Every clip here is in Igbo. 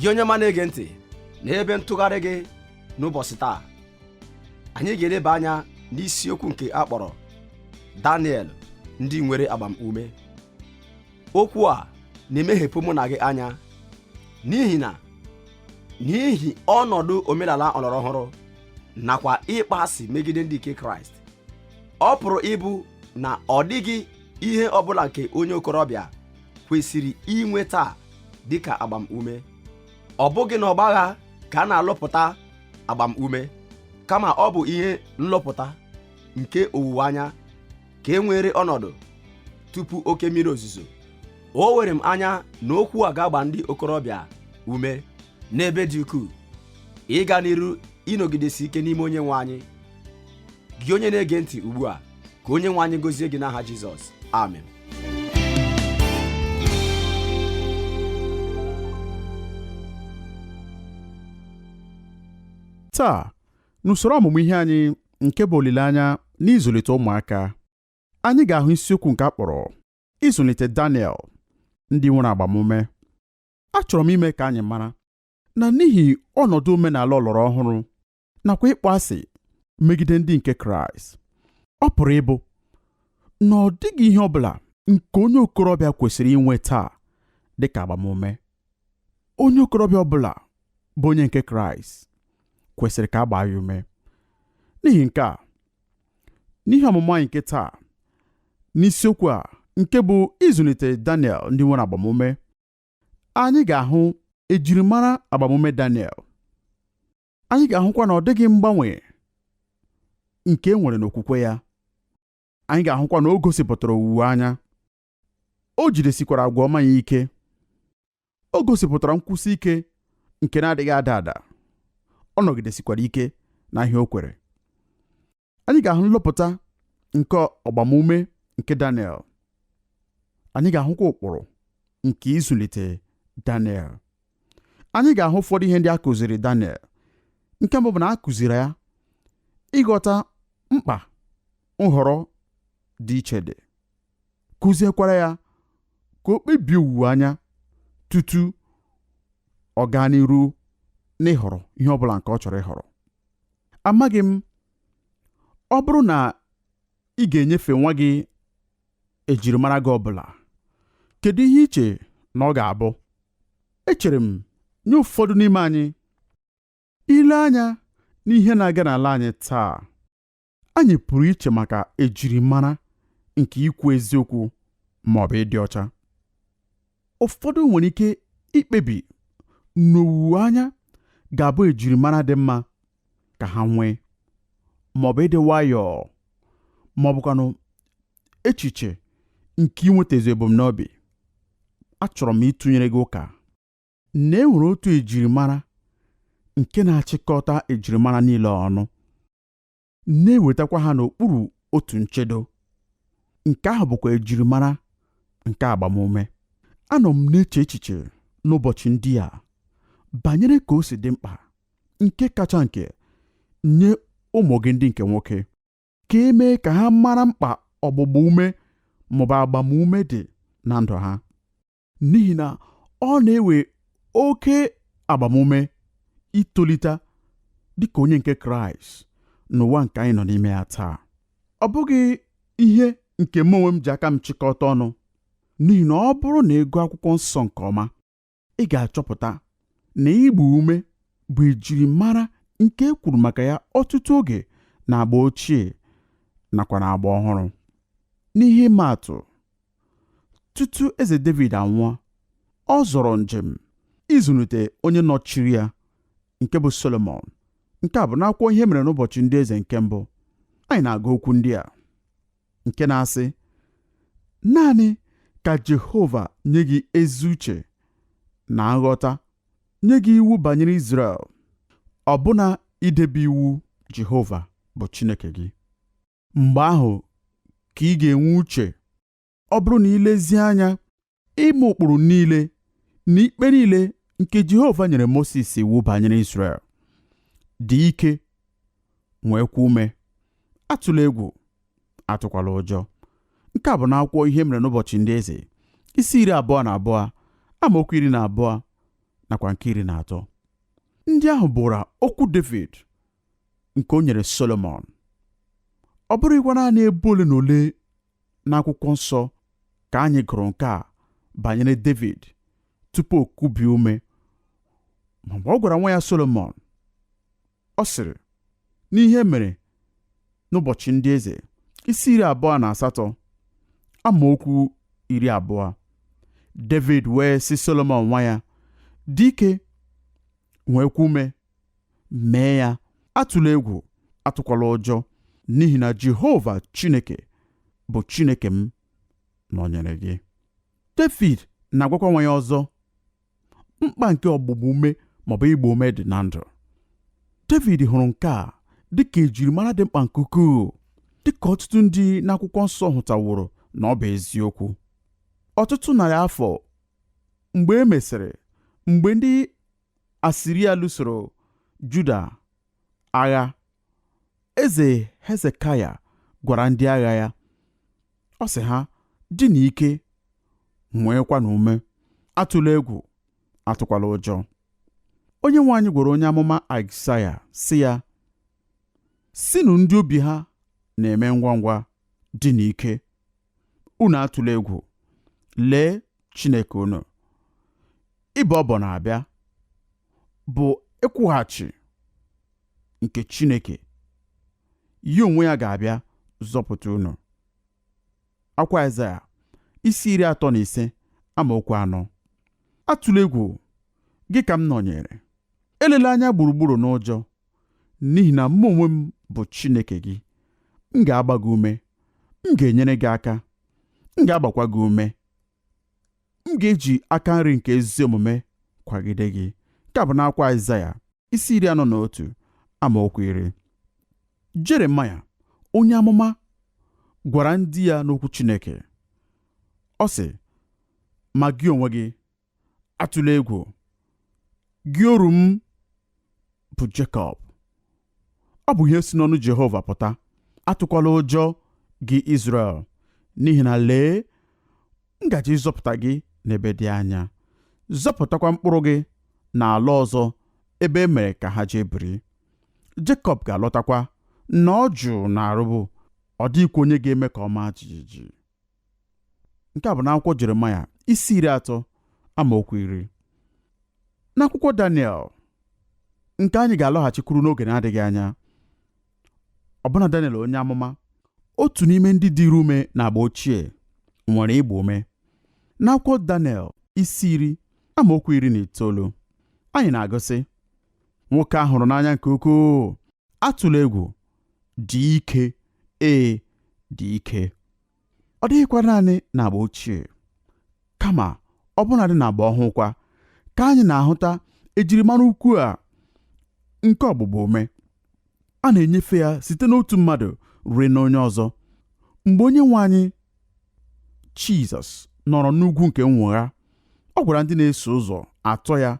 gị onye ọma na-ege ntị n'ebe ntụgharị gị n'ụbọchị taa anyị ga-eleba anya n'isiokwu nke a kpọrọ Daniel ndị nwere agbamume okwu a na-emeghepụ mụ na gị anya n'ihi na n'ihi ọnọdụ omenala ọlọrọ ọhụrụ nakwa ịkpọ asị megide ndị nke Kraịst ọ pụrụ ịbụ na ọ dịghị ihe ọbụla nke onye okorobịa kwesịrị inwe taa dịka agbamume ọ bụghị na ọgbagha ka a na-alụpụta agbamume kama ọ bụ ihe nlụpụta nke owuwe anya ka e nwere ọnọdụ tupu oke mmiri ozuzo o were m anya na okwu a ga-agba ndị okorobịa ume n'ebe dị ukwuu ịga n'iru ịnọgidesi ike n'ime onye nwe anyị gị onye na-ege ntị ugbu a ka onye nwe anyị gozie gị n'aha Jizọs amen taa n'usoro ọmụmụ ihe anyị nke bụ olileanya n'ịzụlite ụmụaka anyị ga-ahụ isiokwu nke a kpọrọ ịzụlite Daniel ndị nwere agbamume achọrọ m ime ka anyị mara na n'ihi ọnọdụ omenala ọlọrọ ọhụrụ nakwa ịkpọ asị megide ndị nke Kraịst ọ pụrụ ịbụ na ọ dịghị ihe ọ bụla nke onye okorobịa kwesịrị inwe taa dị ka agbamume onye okorobịa ọ bụla bụ onye nke Kraịst kwesịrị ka a gbaa ya ume n'ihi nke a n'ihe ọmụmụ anyị nke taa n'isiokwu a nke bụ ịzụlite Daniel ndị nwere agbamume anyị ga-ahụ ejirimara agbamume Daniel anyị ga-ahụkwa na ọ dịghị mgbanwe nke e nwere n'okwukwe ya anyị ga-ahụkwa na o gosipụtara owuwe anya o jidesikwara agwa ọma ya ike o gosipụtara nkwụsi ike nke na-adịghị ada ada ọ nọgidesikwara ike n'ihe o kwere anyị ga-ahụ nlụpụta nke agbamume nke Daniel anyị ga-ahụkwa ụkpụrụ nke ịzụlite Daniel anyị ga-ahụ ụfọdụ ihe ndị a kụziri Daniel nke mbụ bụ na a kụziri ya ịghọta mkpa nhọrọ dị iche dị kụziekwara ya ka o kpebie owuwe anya tutu ọ gaa n'iru n'ịhọrọ ihe ọ bụla nke ọ chọrọ ịhọrọ amaghị m ọ bụrụ na ị ga-enyefe nwa gị ejirimara gị ọbụla kedu ihe i che na ọ ga-abụ echere m nye ụfọdụ n'ime anyị ile anya n'ihe na-aga n'ala anyị taa anyị pụrụ iche maka ejirimara nke ikwu eziokwu ma ọ bụ ịdị ọcha ụfọdụ nwere ike ikpebi n'owuwe anya ga-abụ ejirimara dị mma ka ha nwee maọbụ ịdị nwayọọ maọbụkwanụ echiche nke inwetazu ebumnobi achọrọ m ịtụnyere gị ụka na e nwere otu ejirimara nke na-achịkọta ejirimara niile ọnụ na-ewetakwa ha n'okpuru otu nchedo nke ahụ bụkwa ejirimara nke agbamume anọ m na-eche echiche n'ụbọchị ndị a banyere ka o si dị mkpa nke kacha nke nye ụmụ gị ndị nke nwoke ka e mee ka ha mara mkpa ọgbụgba ume maọbụ agbamume dị na ndụ ha n'ihi na ọ na-ewe oke agbamume itolite dị ka onye nke Kraịst n'ụwa nke anyị nọ n'ime ya taa ọ bụghị ihe nke m onwe m ji aka m chịkọta ọnụ n'ihi na ọ bụrụ na ị gụọ akwụkwọ nsọ nke ọma ị ga-achọpụta na ịgba ume bụ ejirimara nke e kwuru maka ya ọtụtụ oge na agba ochie nakwa na agba ọhụrụ n'ihe ịma atụ tutu eze David anwụọ ọ zọrọ njem ịzụlite onye nọchiri ya nke bụ Solomon nke a bụ n'akwụkwọ ihe mere n'ụbọchị ndị eze nke mbụ anyị na-agụ okwu ndị a nke na-asị naanị ka Jehova nye gị ezi uche na nghọta nye gị iwu banyere Izrel ọbụna idebe iwu Jehova bụ Chineke gị mgbe ahụ ka ị ga-enwe uche ọ bụrụ na i lezie anya ime ụkpụrụ niile na ikpe niile nke Jehova nyere Mosis iwu banyere Izrel dị ike nweekwa ume atụla egwu atụkwala ụjọ nke a bụ n'akwụkwọ ihe mere n'ụbọchị ndị eze isi iri abụọ na abụọ amaokwu iri na abụọ nakwa nke iri na atọ ndị ahụ bụra okwu David nke o nyere Solomọn ọ bụrụghịkwa naanị ebe ole na ole n'akwụkwọ nsọ ka anyị gụrụ nke a banyere David tupu o kubie ume ma mgbe ọ gwara nwa ya Solomọn ọ sịrị n'ihe mere n'ụbọchị ndị eze isi iri abụọ na asatọ amaokwu iri abụọ David wee sị Solomọn nwa ya dị ike nweekwa ume mee ya atụla egwu atụkwala ụjọ n'ihi na jehova chineke bụ chineke m nọnyere gị david na-agwakwa nwa ya ọzọ mkpa nke ọgbụgba ume maọbụ ịgba ume dị na ndụ david hụrụ nke a dịka ejirimara dị mkpa nke ukwuu dịka ọtụtụ ndị n'akwụkwọ nsọ hụtaworo na ọ bụ eziokwu ọtụtụ narị afọ mgbe e mesịrị mgbe ndị Asiria lụsoro Juda agha. Eze Hezekaya gwara ndị agha ya, ọ sị ha, dịnụ ike nweekwanụ ume atụla egwu atụkwala ụjọ onye nwe anyị gwara onye amụma Aịzaya sị ya sịnụ ndị obi ha na-eme ngwa ngwa dịnụ ike unu atụla egwu lee Chineke unu ịbọ ọbọ na-abịa bụ ịkwụghachi nke Chineke ya onwe ya ga-abịa zọpụta unu akwụkwọ Aịzaya isi iri atọ na ise amaokwu anọ atụla egwu gị ka m nọnyere elela anya gburugburu n'ụjọ n'ihi na mụ onwe m bụ Chineke gị m ga-agba gị ume m ga-enyere gị aka m ga-agbakwa gị ume m ga-eji aka nri nke ezi omume kwagide gị nke a bụ n'akwụkwọ Aịzaya isi iri anọ na otu amaokwu iri Jeremaya onye amụma gwara ndị ya n'okwu Chineke ọ sị ma gị onwe gị atụla egwu gị oru m bụ Jekọb ọ bụ ihe si n'ọnụ Jehova pụta atụkwala ụjọ gị Izrel n'ihi na lee m gaje ịzọpụta gị n'ebe dị anya zọpụtakwa mkpụrụ gị n'ala ọzọ ebe e mere ka ha jee biri Jekọb ga-alọtakwa nọọ jụụ na arụbụ ọ dịghịkwa onye ga-eme ka ọ maa jijiji nke a bụ n'akwụkwọ Jeremaya isi iri atọ amaokwu iri n'akwụkwọ Daniel nke anyị ga-alọghachikwuru n'oge na-adịghị anya ọbụna Daniel onye amụma otu n'ime ndị dịrị ume na agba ochie nwere ịgba ume n'akwụkwọ Daniel isi iri amaokwu iri na itoolu anyị na-agụ sị nwoke a hụrụ n'anya nke ukwuu atụla egwu dị ike ee dị ike ọ dịghịkwa naanị na agba ochie kama ọbụnadị na agba ọhụụ kwa ka anyị na-ahụta ejirimara ukwu a nke ọgbụgba ume a na-enyefe ya site n'otu mmadụ ruo n'onye ọzọ mgbe onye nwe anyị Jizọs nọrọ n'ugwu nke nnwogha ọ gwara ndị na-eso ụzọ atọ ya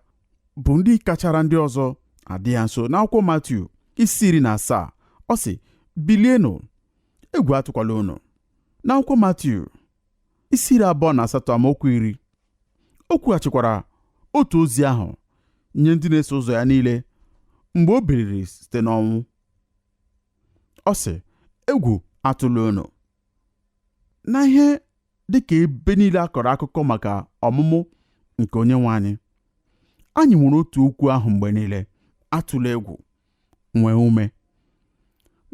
bụ ndị kachara ndị ọzọ adị ya nso n'akwụkwọ Matiu isi iri na asaa ọ sị bilienụ egwu atụkwala unu n'akwụkwọ Matiu isi iri abụọ na asatọ amaokwu iri o kwughachikwara otu ozi ahụ nye ndị na-eso ụzọ ya niile mgbe o biliri site n'ọnwụ ọ sị egwu atụla unu na ihe dị ka ebe niile a kọrọ akụkọ maka ọmụmụ nke onye nwe anyị anyị nwere otu okwu ahụ mgbe niile atụla egwu nwee ume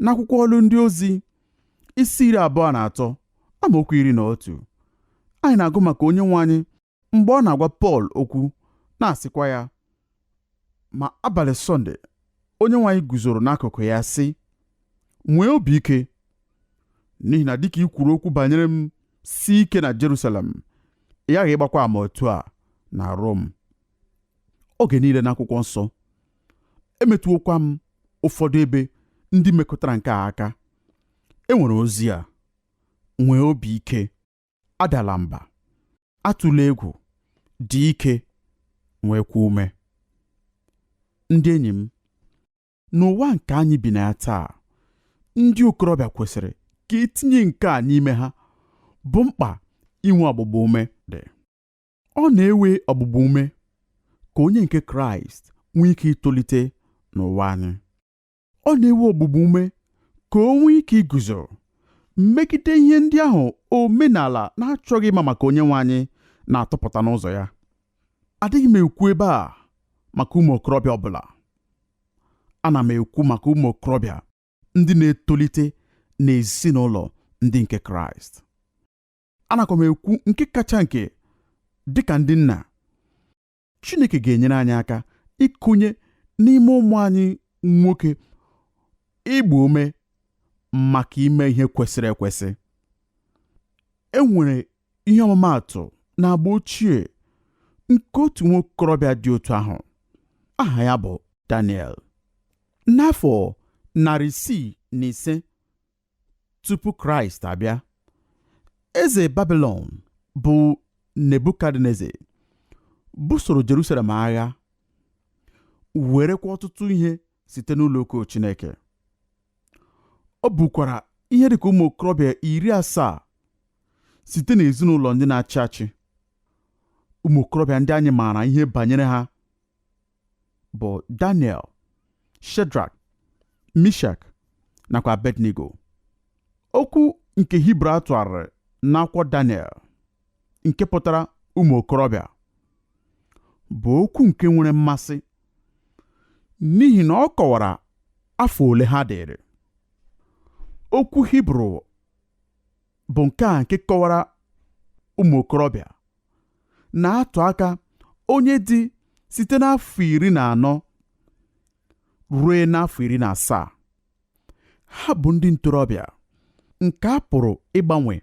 n'akwụkwọ ọlụ ndị ozi isi iri abụọ na atọ amaokwu iri na otu anyị na-agụ maka onye nwe anyị mgbe ọ na-agwa Pọl okwu na-asịkwa ya ma abalị Sọnde onye nwe anyị guzoro n'akụkụ ya sị nwee obi ike n'ihi na dịka i kwuru okwu banyere m sie ike na Jerusalem ị ghaghị ịgbakwa ama otu a na Rom oge niile n'akwụkwọ nsọ emetụwokwa m ụfọdụ ebe ndị mekọtara nke a aka e nwere ozi a nwee obi ike adala mba atụla egwu dị ike nweekwa ume ndị enyi m n'ụwa nke anyị bi na ya taa ndị okorobịa kwesịrị ka e tinye nke a n'ime ha bụ mkpa inwe ọgbụgba ume dị ọ na-ewe ọgbụgba ume ka onye nke kraịst nwee ike itolite n'ụwa anyị ọ na-ewe ọgbụgba ume ka o nwee ike iguzo megide ihe ndị ahụ omenala na-achọghị ịma maka onye nwe anyị na-atụpụta n'ụzọ ya adịghị m ekwu ebe a maka ụmụ okorobịa ọbụla ana m ekwu maka ụmụ okorobịa ndị na-etolite n'ezinụlọ ndị nke kraịst anakwa m ekwu nke kacha nke dịka ndị nna Chineke ga-enyere anyị aka ịkụnye n'ime ụmụ anyị nwoke ịgba ume maka ime ihe kwesịrị ekwesị. E nwere ihe ọmụmaatụ n'agba ochie nke otu nwokorobịa dị otu ahụ aha ya bụ Daniel. N'afọ narị isii na ise tupu kraịst abịa eze babilọn bụ nebukadneza busoro jerusalem agha werekwa ọtụtụ ihe site n'ụlọ ukwu chineke o bukwara ihe dịka ụmụ okorobịa iri asaa site n'ezinụlọ ndị na-achị achị ụmụ okorobịa ndị anyị maara ihe banyere ha bụ Daniel Shedrak Mishak nakwa Abednego okwu nke Hibru a tụgharịrị n'akwụkwọ Daniel nke pụtara ụmụ okorobịa bụ okwu nke nwere mmasị n'ihi na ọ kọwara afọ ole ha dịrị okwu Hibru bụ nke a nke kọwara ụmụ okorobịa na-atụ aka onye dị site n'afọ iri na anọ ruo n'afọ iri na asaa ha bụ ndị ntorobịa nke a pụrụ ịgbanwe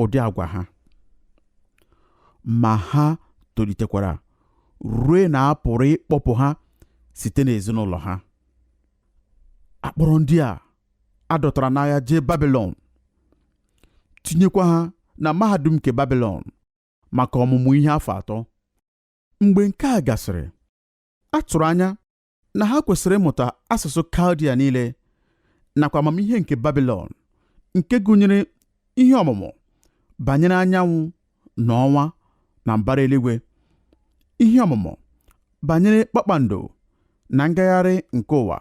ụdị agwa ha ma ha tolitekwara ruo na a pụrụ ịkpọpụ ha site n'ezinụlọ ha a kpọrọ ndị a a dọtara n'agha jee babilọn tinyekwa ha na mahadum nke babilọn maka ọmụmụ ihe afọ atọ mgbe nke a gasịrị a tụrụ anya na ha kwesịrị ịmụta asụsụ kaldia niile nakwa amamihe nke babilọn nke gụnyere ihe ọmụmụ banyere anyanwụ na ọnwa na mbara eluigwe ihe ọmụmụ banyere kpakpando na ngagharị nke ụwa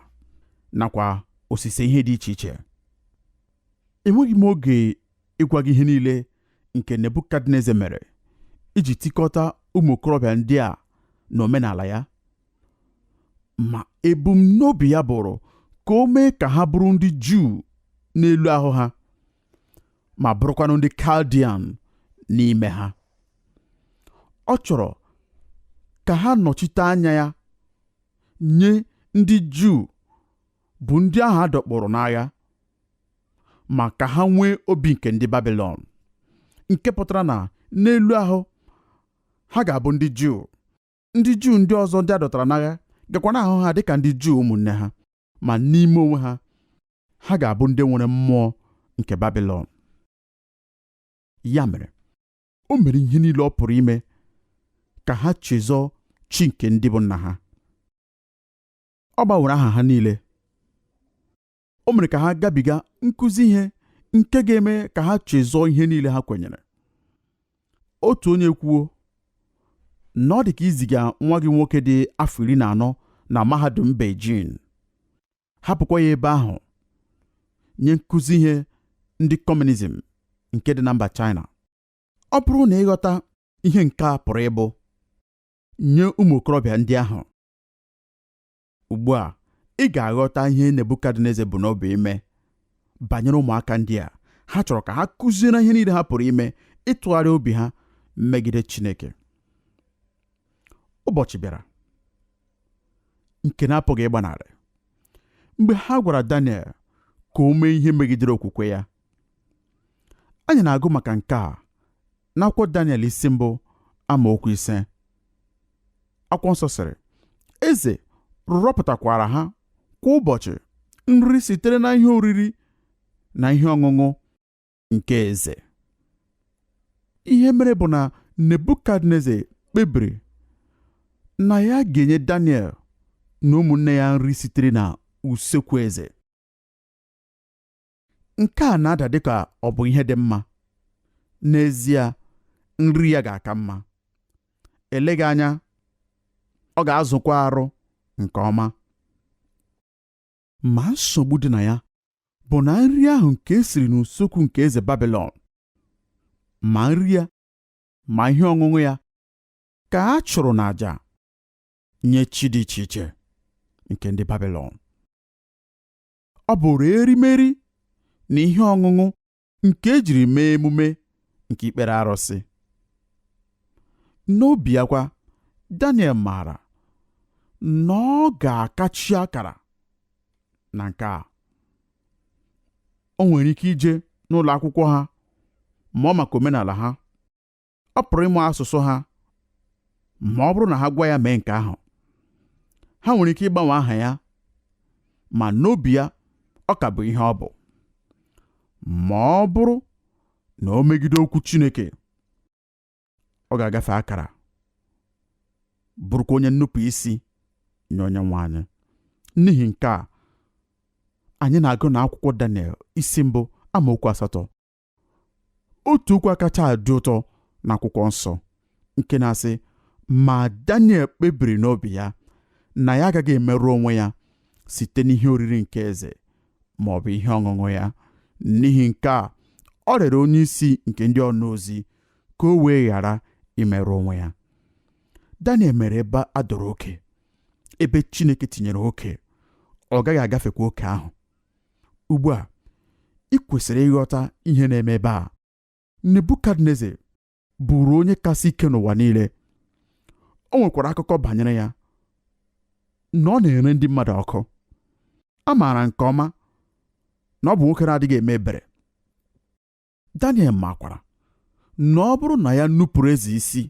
nakwa osise ihe dị iche iche enweghị m oge ịgwa gị ihe niile nke Nebukadneza mere iji tikọta ụmụ okorobịa ndị a na omenala ya ma ebumnobi ya bụrụ ka o mee ka ha bụrụ ndị Juu n'elu ahụ ha ma bụrụkwanụ ndị Kaldian n'ime ha ọ chọrọ ka ha nọchite anya ya nye ndị Juu bụ ndị ahụ a dọkpụrụ n'agha ma ka ha nwee obi nke ndị babilọn nke pụtara na n'elu ahụ ha ga-abụ ndị juu ndị juu ndị ọzọ ndị a dọtara n'agha gakwa na-ahụ ha dịka ndị juu ụmụnne ha ma n'ime onwe ha ha ga-abụ ndị nwere mmụọ nke babilọn ya mere o mere ihe niile ọ pụrụ ime ka ha chezọọ chi nke ndị bụ nna ha ọ gbanwere aha ha niile o mere ka ha gabiga nkụzi ihe nke ga-eme ka ha chezọọ ihe niile ha kwenyere otu onye kwuo na ọ dị ka iziga nwa gị nwoke dị afọ iri na anọ na mahadum Beijing hapụkwa ya ebe ahụ nye nkụzi ihe ndị kọmunizm nke dị na mba China ọ bụrụ na ị ghọta ihe nke a pụrụ ịbụ nye ụmụ okorobịa ndị ahụ Ugbu a, ị ga-aghọta ihe Nebukadneza bu n'obi ime banyere ụmụaka ndị a. Ha chọrọ ka ha kụziere ihe niile ha pụrụ ime ịtụgharị obi ha megide Chineke. Ụbọchị bịara nke na-apụghị ịgbanarị mgbe ha gwara Daniel ka o mee ihe megidere okwukwe ya. Anyị na-agụ maka nke a n'akwụkwọ Daniel isi mbụ amaokwu ise akwụkwọ nsọ sịrị eze rọpụtakwaara ha kwa ụbọchị nri sitere na ihe oriri na ihe ọṅụṅụ nke eze ihe mere bụ na nebukadneza kpebiri na ya ga-enye daniel na ụmụnne ya nri sitere na usekwu eze nke a na-ada dị ka ọ bụ ihe dị mma n'ezie nri ya ga-aka mma eleghị anya ọ ga-azụkwa arụ nke ọma ma nsogbu dị na ya bụ na nri ahụ nke e siri n'usekwu nke eze Babilọn ma nri ya ma ihe ọṅụṅụ ya ka a chụrụ n'àjà nye chi dị iche iche nke ndị Babilọn ọ bụụrụ erimeri na ihe ọṅụṅụ nke e jiri mee emume nke ikpere arụsị n'obi ya kwa Daniel maara na ọ ga-akachi akara na nke a o nwere ike ije n'ụlọ akwụkwọ ha mụọ maka omenala ha ọ pụrụ ịmụ asụsụ ha ma ọ bụrụ na ha gwa ya mee nke ahụ ha nwere ike ịgbanwe aha ya ma n'obi ya ọ ka bụ ihe ọ bụ ma ọ bụrụ na o megide okwu Chineke ọ ga-agafe akara bụrụkwa onye nnupụ isi nye Onyenwe anyị n'ihi nke a anyị na-agụ na akwụkwọ Daniel isi mbụ amaokwu asatọ otu okwu kacha adị ụtọ na akwụkwọ nsọ nke na-asị ma Daniel kpebiri n'obi ya na ya agaghị emerụ onwe ya site n'ihe oriri nke eze ma ọ bụ ihe ọṅụṅụ ya n'ihi nke a ọ rịọrọ onye isi nke ndị ọnaozi ka o wee ghara imerụ onwe ya Daniel mere ebe a dọrọ oke ebe Chineke tinyere oke ọ gaghị agafekwa oke ahụ ugbu a i kwesịrị ịghọta ihe na-eme ebe a nebukadneze bụụrụ onye kasị ike n'ụwa niile o nwekwara akụkọ banyere ya na ọ na-ere ndị mmadụ ọkụ a maara nke ọma na ọ bụ nwoke na-adịghị eme ebere Daniel makwara na ọ bụrụ na ya nupụrụ eze isi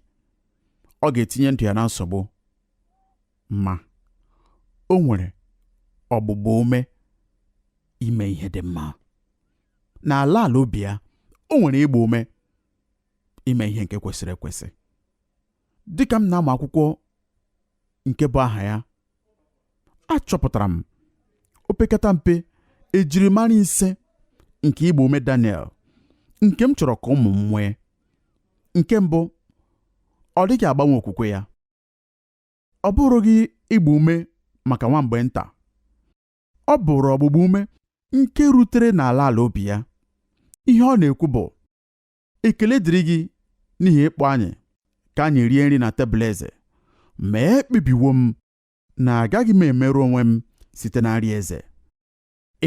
ọ ga-etinye ndụ ya na nsogbu ma o nwere ọgbụgba ume ime ihe dị mma n'ala ala obi ya o nwere ịgba ume ime ihe nke kwesịrị ekwesị dịka m na-amụ akwụkwọ nke bu aha ya achọpụtara m opekata mpe ejirimara ise nke ịgba ume Daniel nke m chọrọ ka ụmụ m nwee nke mbụ ọ dịghị agbanwe okwukwe ya ọ bụrụghị ịgba ume maka nwa mgbe nta ọ bụrụ ọgbụgba ume nke rutere n'ala ala obi ya ihe ọ na-ekwu bụ ekele dịrị gị n'ihi ịkpọ anyị ka anyị rie nri na tebụl eze ma ekpebiwo m na agaghị m emerụ onwe m site na nri eze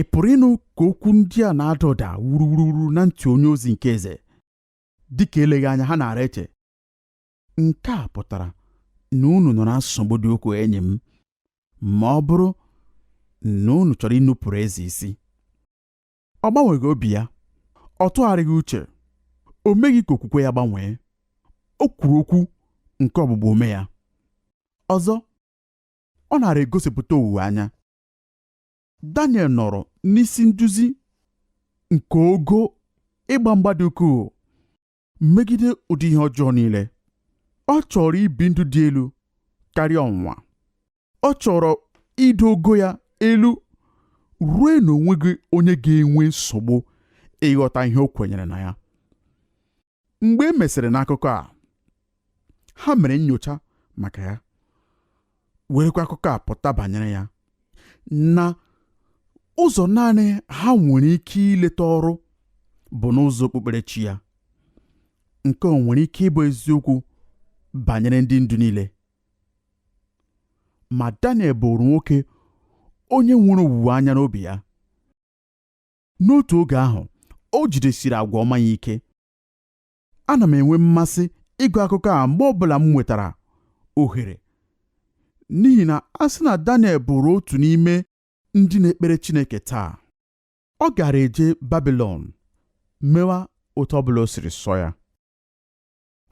ị pụrụ ịnụ ka okwu ndị a na-ada ụda wuruwuruwuru na ntị onye ozi nke eze dị ka eleghị anya ha nara eche nke a pụtara na unu nọ na nsogbu dị ukwuu enyi m ma ọ bụrụ na unu chọrọ inupụrụ eze isi Ọ gbanweghị obi ya. Ọ tụgharịghị uche. O meghị ka okwukwe ya gbanwee. O kwuru okwu nke ọgbụgba ume ya. Ọzọ, ọ nara egosipụta owuwe anya. Daniel nọrọ n'isi nduzi nke ogo ịgba mgba dị ukwuu. megide ụdị ihe ọjọọ niile ọ chọrọ ibi ndụ dị elu karịa ọnwụnwa ọ chọrọ ido ogo ya elu ruo na o nweghị onye ga-enwe nsogbu ịghọta ihe o kwenyere na ya mgbe e mesịrị n'akụkọ a ha mere nyocha maka ya werekwa akụkọ a pụta banyere ya na ụzọ naanị ha nwere ike ileta ọrụ bụ n'ụzọ okpukperechi ya nke o nwere ike ịbụ eziokwu banyere ndị ndu niile ma Daniel bụrụ nwoke onye nwere owuwe anya n'obi ya n'otu oge ahụ o jidesiri agwa ọma ya ike ana m enwe mmasị ịgụ akụkọ a mgbe ọbụla m nwetara ohere n'ihi na a sị na Daniel bụrụ otu n'ime ndị na-ekpere Chineke taa ọ gaara eje Babilọn mewa otu ọbụla o siri sọ ya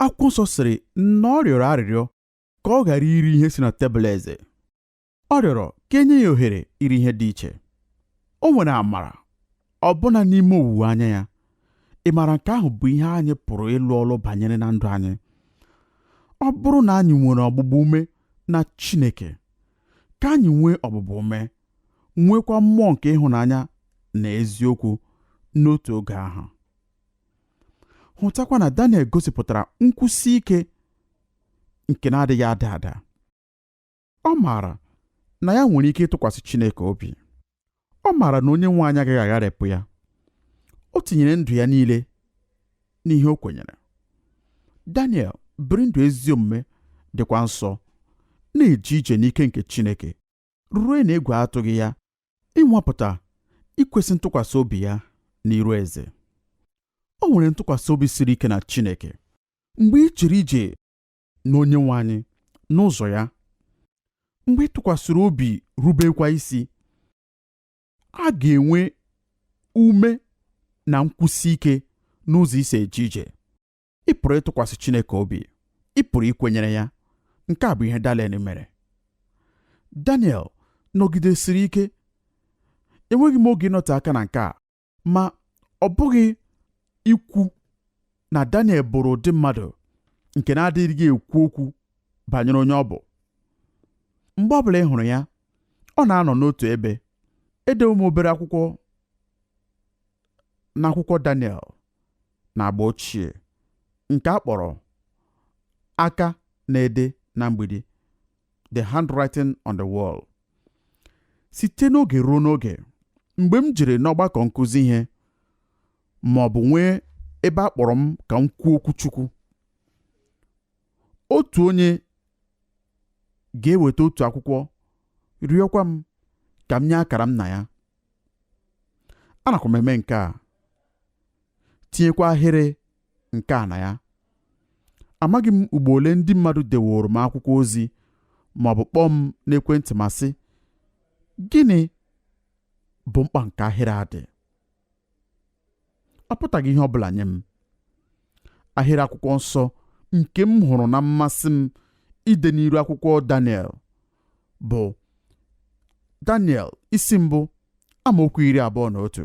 akwụkwọ nsọ sịrị na ọ rịọrọ arịrịọ ka ọ ghara iri ihe si na tebụl eze ọ rịọrọ ka e nye ya ohere iri ihe dị iche o nwere amara ọbụna n'ime owuwe anya ya ị maara nke ahụ bụ ihe anyị pụrụ ịlụ ọlụ banyere na ndụ anyị ọ bụrụ na anyị nwere ọgbụgba ume na Chineke ka anyị nwee ọgbụgba ume nweekwa mmụọ nke ịhụnanya na eziokwu n'otu oge ahụ hụtakwa na Daniel gosipụtara nkwụsi ike nke na-adịghị ada ada ọ maara na ya nwere ike ịtụkwasị Chineke obi ọ maara na onye nwe anyị agaghị agharịpụ ya o tinyere ndụ ya niile n'ihe o kwenyere Daniel biri ndụ ezi omume dịkwa nsọ na-eje ije n'ike nke Chineke ruo na egwu atụghị ya ịnwapụta ikwesị ntụkwasị obi ya n'iru eze o nwere ntụkwasị obi siri ike na Chineke mgbe i jere ije na onyenwe anyị n'ụzọ ya mgbe ị tụkwasịrị obi rubekwa isi a ga-enwe ume na nkwụsi ike n'ụzọ i si eje ije ị pụrụ ịtụkwasị Chineke obi ị pụrụ ikwenyere ya nke a bụ ihe Daniel mere Daniel nọgidesiri ike enweghị m oge ịnọte aka na nke a ma ọ bụghị ikwu na Daniel bụrụ ụdị mmadụ nke na-adịghị ekwu okwu banyere onye ọ bụ mgbe ọ bụla ị hụrụ ya ọ na-anọ n'otu ebe edewo m obere akwụkwọ n'akwụkwọ Daniel na agba ochie nke a kpọrọ aka na-ede na mgbidi The Handwriting on the Wall site n'oge ruo n'oge mgbe m jere n'ọgbakọ nkụzi ihe ma ọ bụ nwee ebe a kpọrọ m ka m kwuo okwu Chukwu otu onye ga-eweta otu akwụkwọ rịọkwa m ka m nye akara m na ya anakwa m eme nke a tinyekwa ahịrị nke a na ya amaghị m ugbo ole ndị mmadụ deworo m akwụkwọ ozi ma ọ bụ kpọọ m n'ekwentị ma sị gịnị bụ mkpa nke ahịrị a dị ọ pụtaghị ihe ọ bụla nye m ahịrị akwụkwọ nsọ nke m hụrụ na mmasị m ide n'iru akwụkwọ Daniel bụ Daniel isi mbụ amaokwu iri abụọ na otu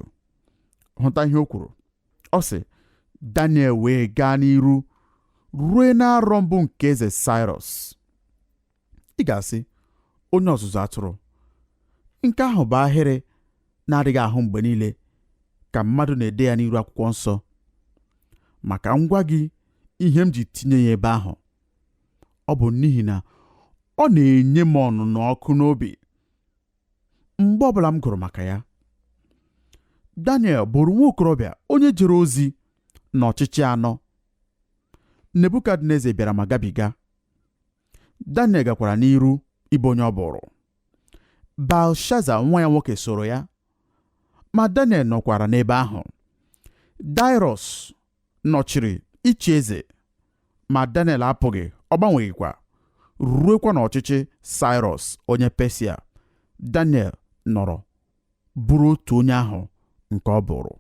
hụta ihe o kwuru ọ sị Daniel wee gaa n'iru rue n'arọ mbụ nke eze Saịrọs ị ga-asị onye ọzụzụ atụrụ nke ahụ bụ ahịrị ị na-adịghị ahụ mgbe niile ka mmadụ na-ede ya n'iru akwụkwọ nsọ ma ka m gwa gị ihe m ji tinye ya ebe ahụ ọ bụ n'ihi na ọ na-enye m ọnụnụ ọkụ n'obi mgbe ọbụla m gụrụ maka ya Daniel bụrụ nwa okorobịa onye jere ozi n'ọchịchị anọ Nebukadneza bịara ma gabiga Daniel gakwara n'iru ịbụ onye ọ bụrụ Belshaza nwa ya nwoke soro ya ma Daniel nọkwara n'ebe ahụ Daịrọs nọchiri ịchị eze ma Daniel apụghị ọ gbanweghịkwa ruekwa n'ọchịchị Saịrọs onye Pesia Daniel nọrọ bụrụ otu onye ahụ nke ọ bụrụ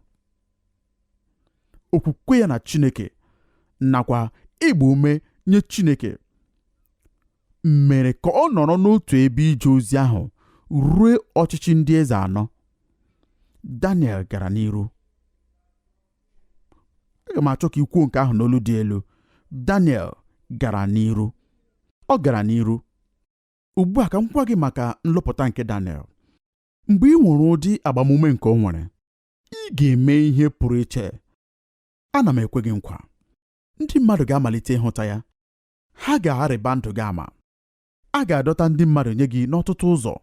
okwukwe ya na Chineke nakwa ịgba ume nye Chineke mere ka ọ nọrọ n'otu ebe ije ozi ahụ ruo ọchịchị ndị eze anọ Daniel gara n'iru aga m achọ ka i kwuo nke ahụ n'olu dị elu Daniel gara n'iru ọ gara n'iru ugbu a ka m gwa gị maka nlụpụta nke Daniel mgbe i nwere ụdị agbamume nke o nwere ị ga-eme ihe pụrụ iche ana m ekwe gị nkwa ndị mmadụ ga-amalite ịhụta ya ha ga-arịba ndụ gị ama a ga-adọta ndị mmadụ nye gị n'ọtụtụ ụzọ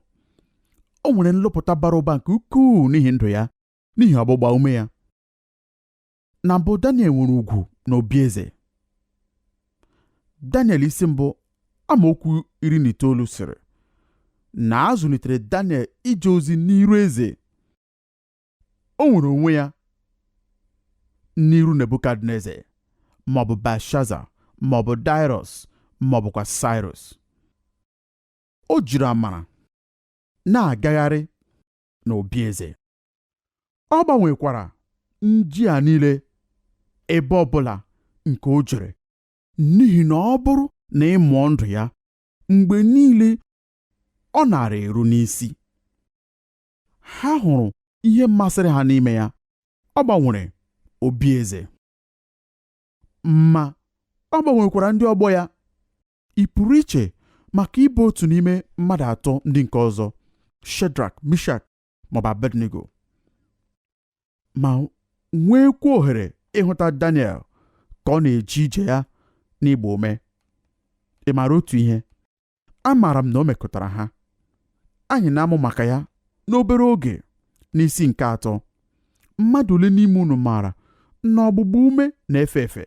o nwere nlụpụta bara ụba nke ukwuu n'ihi ndụ ya n'ihi ọgbụgba ume ya na mbụ Daniel nwere ugwu n'obi eze Daniel isi mbụ amaokwu iri na itoolu sịrị na a zụlitere Daniel ije ozi n'iru eze o nwere onwe ya n'iru Nebukadneza maọbụ Belshaza maọbụ Daịrọs maọbụkwa Saịrọs o jiri amara na-agagharị n'obi eze ọ gbanwekwara ndị a niile ebe ọ bụla nke o jere n'ihi na ọ bụrụ na ị mụọ ndụ ya mgbe niile ọ na-arịru n'isi ha hụrụ ihe masịrị ha n'ime ya ọ gbanwere obi eze ma ọ gbanwekwara ndị ọgbọ ya ị pụrụ iche maka ịbụ otu n'ime mmadụ atọ ndị nke ọzọ Shedrak Mishak maọbụ Abednego ma nweekwa ohere ịhụta Daniel ka ọ na-eje ije ya n'ịgba ume ị maara otu ihe amaara m na o mekụtara ha anyị na-amụ maka ya n'obere oge n'isi nke atọ mmadụ ole n'ime unu maara na ọgbụgba ume na-efe efe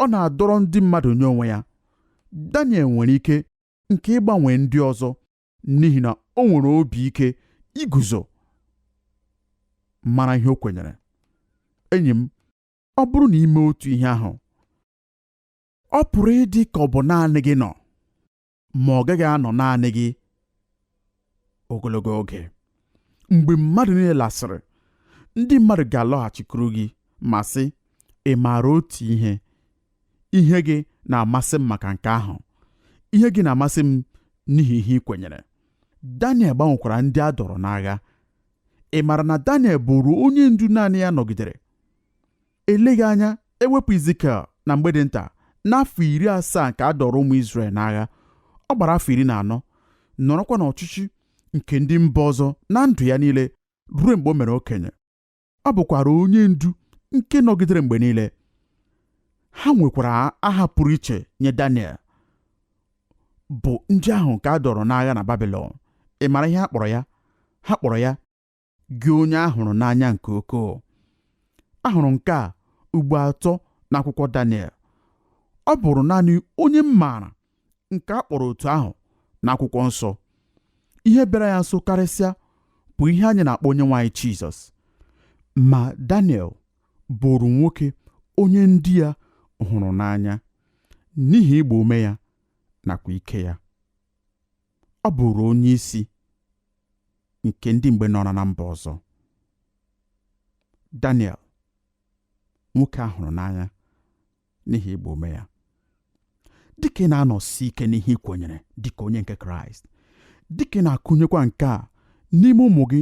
ọ na-adọrọ ndị mmadụ nye onwe ya Daniel nwere ike nke ịgbanwe ndị ọzọ n'ihi na o nwere obi ike iguzo mara ihe o kwenyere enyi m ọ bụrụ na i mee otu ihe ahụ ọ pụrụ ịdị ka ọ bụ naanị gị nọ ma ọ gaghị anọ naanị gị ogologo oge mgbe mmadụ niile lasịrị ndị mmadụ ga-alọghachikwuru gị ma sị ị maara otu ihe ihe gị na-amasị m maka nke ahụ ihe gị na-amasị m n'ihi ihe ị kwenyere Daniel gbanwekwara ndị a dọrọ n'agha ị maara na Daniel bụrụ onye ndu naanị ya nọgidere eleghị anya e wepụ Izikiel na mgbe dị nta n'afọ iri asaa nke a dọrọ ụmụ Izrel n'agha ọ gbara afọ iri na anọ nọrọkwa n'ọchịchị nke ndị mba ọzọ na ndụ ya niile ruo mgbe o mere okenye ọ bụkwara onye ndu nke nọgidere mgbe niile ha nwekwara aha pụrụ iche nye Daniel bụ ndị ahụ nke a dọrọ n'agha na Babilọn ị mara ihe ha kpọrọ ya ha kpọrọ ya gị onye a hụrụ n'anya nke ukwuu a hụrụ nke a ugbo atọ n'akwụkwọ Daniel ọ bụrụ naanị onye m maara nke a kpọrọ otu ahụ n'akwụkwọ nsọ ihe bịara ya nso karịsịa bụ ihe anyị na-akpọ onye nwe anyị Jizọs ma Daniel bụrụ nwoke onye ndị ya hụrụ n'anya n'ihi ịgba ume ya nakwa ike ya ọ bụrụ onye isi nke ndị mgbe nọrọ na mba ọzọ Daniel nwoke a hụrụ n'anya n'ihi ịgba ume ya dịka ị na-anọsi ike n'ihe ị kwenyere dịka onye nke kraịst dịka ị na-akụnyekwa nke a n'ime ụmụ gị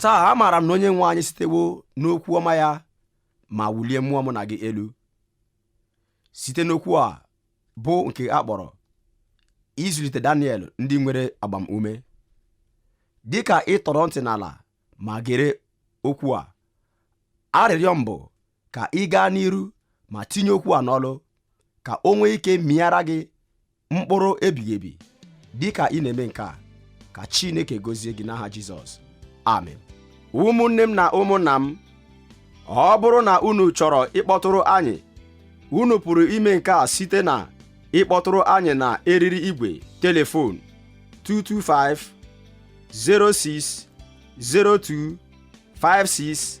taa amaara m na onye nwe anyị sitewo n'okwu ọma ya ma wulie mmụọ mụ na gị elu site n'okwu a bụ nke a kpọrọ ịzụlite Daniel ndị nwere agbamume dị ka ị tọrọ ntị n'ala ma gere okwu a arịrịọ m bụ ka ị gaa n'iru ma tinye okwu a n'ọlụ ka o nwee ike mịara gị mkpụrụ ebighị ebi dị ka ị na-eme nke a ka Chineke gozie gị n'aha Jizọs amen ụmụnne m na ụmụnna m ọ bụrụ na unu chọrọ ịkpọtụrụ anyị unu pụrụ ime nke a site na ịkpọtụrụ anyị na eriri igwe telefon 225 06 02 56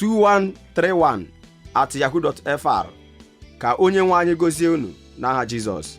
2131 at yahoo.fr ka onye nwe anyị gozie unu n'aha Jizọs